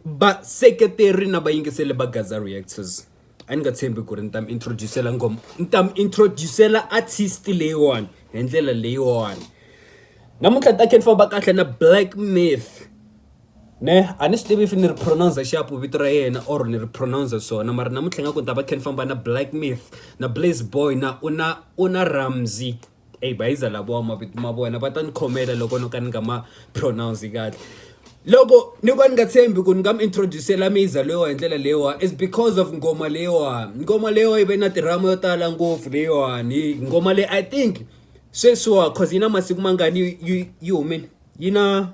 vaseketeri na vayingiseli va gaza reactors a ni nga tshembi ku ri ni ta mi introducela ngoma ni ta mi introducela artist leyiwani hi ndlela leyiwani namuntlha ni ta khe ni famba kahle na black myth ne a ni swi tivi if ni ri pronounce xapu vito ra yena or ni ri pronounce swona mara namuntlha nga ku ni ta va khe ni famba na black myth na blaze boy na u na u na ramsey Ey bayizwa lavo mavito ma vona va ta ni khomela loko no ka ni nga ma pronounce kahle loko ni va ni nga tshembi ku ni nga mi introduce-ela miyza leyiwa hi ndlela leyiwa is because of nghoma leyiwa nghoma leyiwa yi ve na tirhama yo tala ngopfu leyiwani nghoma leyi i think sweswiwa cause yi na masiku mangani yi yi yi humile yi na.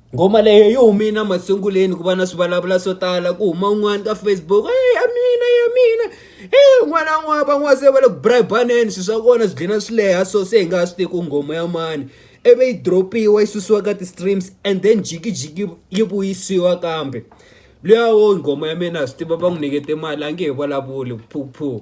Ngoma leyi yi humile masunguleni ku va na swivulavula swo tala ku huma un'wana ka Facebook ya mina ya mina n'wana n'wana van'wana se va le ku bribe-aneni swilo swa kona swi dlina swi leha so se hi nga ha swi tivi ku nghoma ya mani ivi yi drop-iwa yi susiwa ka ti-streams and then jikijiki yi vuyisiwa kambe luya wo nghoma ya mina ha swi tiva va n'wi nyikete mali a nge he vulavuli phu phu.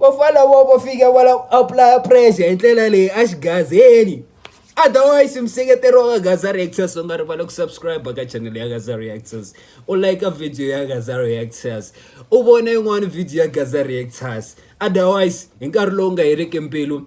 walowo vo fika wa la ku apulaya pressure hi ndlela leyi a xigazeni otherwise museketeri wa ka gaza reactors u nga rivali ku subscribe ka channel ya gaza reactors u like video ya gaza reactors u vona yin'wana video ya gaza reactors otherwise hi nkarhi lowu nga heriki mbilu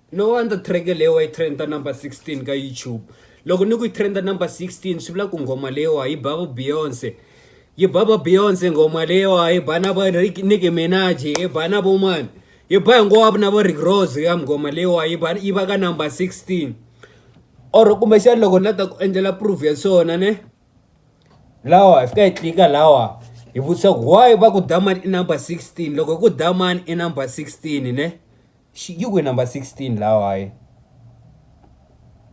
No wonder track leyi wa yi trenda number 16 ka YouTube. Loko ni ku yi trenda number 16 swi vula ku nghoma leyi wa yi ba va Beyonce. Yi ba va Beyonce nghoma leyi wa yi ba na va Nicki Minaj, yi ba na vo mani. Yi ba hinkwavo na va Rick Ross ya nghoma leyi wa yi ba yi va ka number 16. Or kumbexana loko ni la ta ku endlela proof ya swona ne lawa hi fika hi tlika lawa hi vutisa ku why va ku Daman i number 16 loko hi ku Daman i number 16 ne. Xigigwe number 16 lawa hayi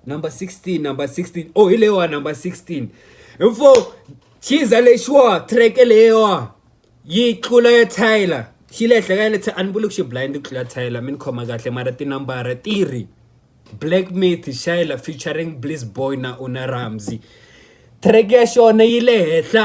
number 16 number 16 oh hi leyiwa number 16 info chiza lexiwa track leyiwa yi tlula ya tyler xi le henhla ka le a ni vuli ku xi blind ku tlula tyler mi ni khoma kahle mara tinambara ti ri black myth shayla featuring bliss boy na una ramsey track ya xona yi le henhla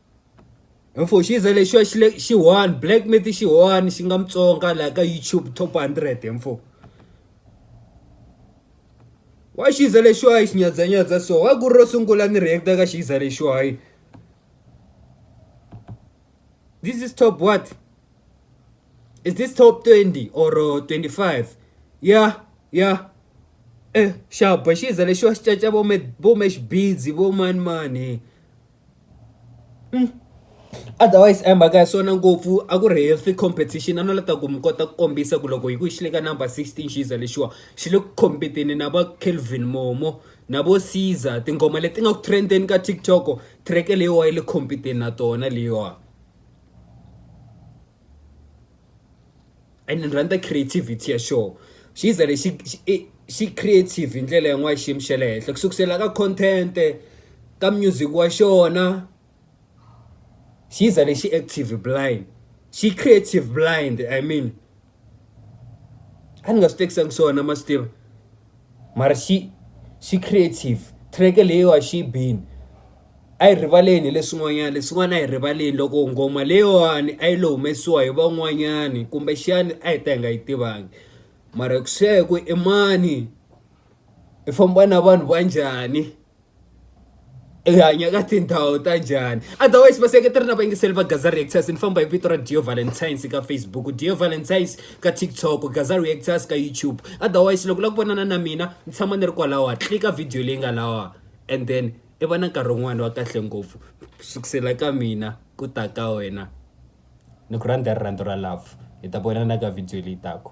Mfoxiza lexiwa xi le xi one black meat xi one xi nga Mutsonga laha ka YouTube top hundred he mfo wa xiza lexiwa hi xinyadzanyadza so wa ku ri ro sungula ni react-a ka xiza lexiwa hi this is top what is this top 20 or 25 ya ya e xaba xiza lexiwa xi caca vo me vo mesh busy vo mani mani. Otherwise a hi mhaka ya swona ngopfu a ku ri healthy competition a no lava ku ta ku mi kota ku kombisa ku loko hi ku hi xi le ka number sixteen xiza lexiwa xi le ku compete-teni na va Kelvin Momo na vo Ceaser tinghoma leti nga ku trend-eni ka TikTok track leyiwa yi le compete-teni na tona leyiwa. and ni rhandza creativity ya xoho xi za lexi xi creative hi ndlela yin'wana ya xiyimo xa le henhla ku sukusela ka content-e ka music wa xona xi za lexi active blind xi creative blind i mean a ni nga swi tekisanga swona ma swi tiva mara xi xi creative track leyiwa xi bini. a hi rivaleni hi leswin'wanyana leswin'wana a hi rivaleni loko nghoma leyiwani a yi lo humesiwa hi van'wanyani kumbexani a hi ta hi nga yi tivangi mara ku swi ya hi ku i mani i famba na vanhu va njhani i hanya ka tindhawu ta njhani otherwise vaseketeri na vayingiseli va Gaza Reactors ni famba hi vito ra Dio Valentine's ka Facebook Dio Valentine's ka TikTok Gaza Reactors ka YouTube otherwise loko u lava ku vonana na mina ni tshama ni ri kwalawa tlika video leyi nga lawa and then I va na nkarhi wun'wani wa kahle ngopfu ku sukusela ka mina ku ta ka wena ni ku rhandza hi rirhandzu ra love hi ta vonana ka video leyi taka.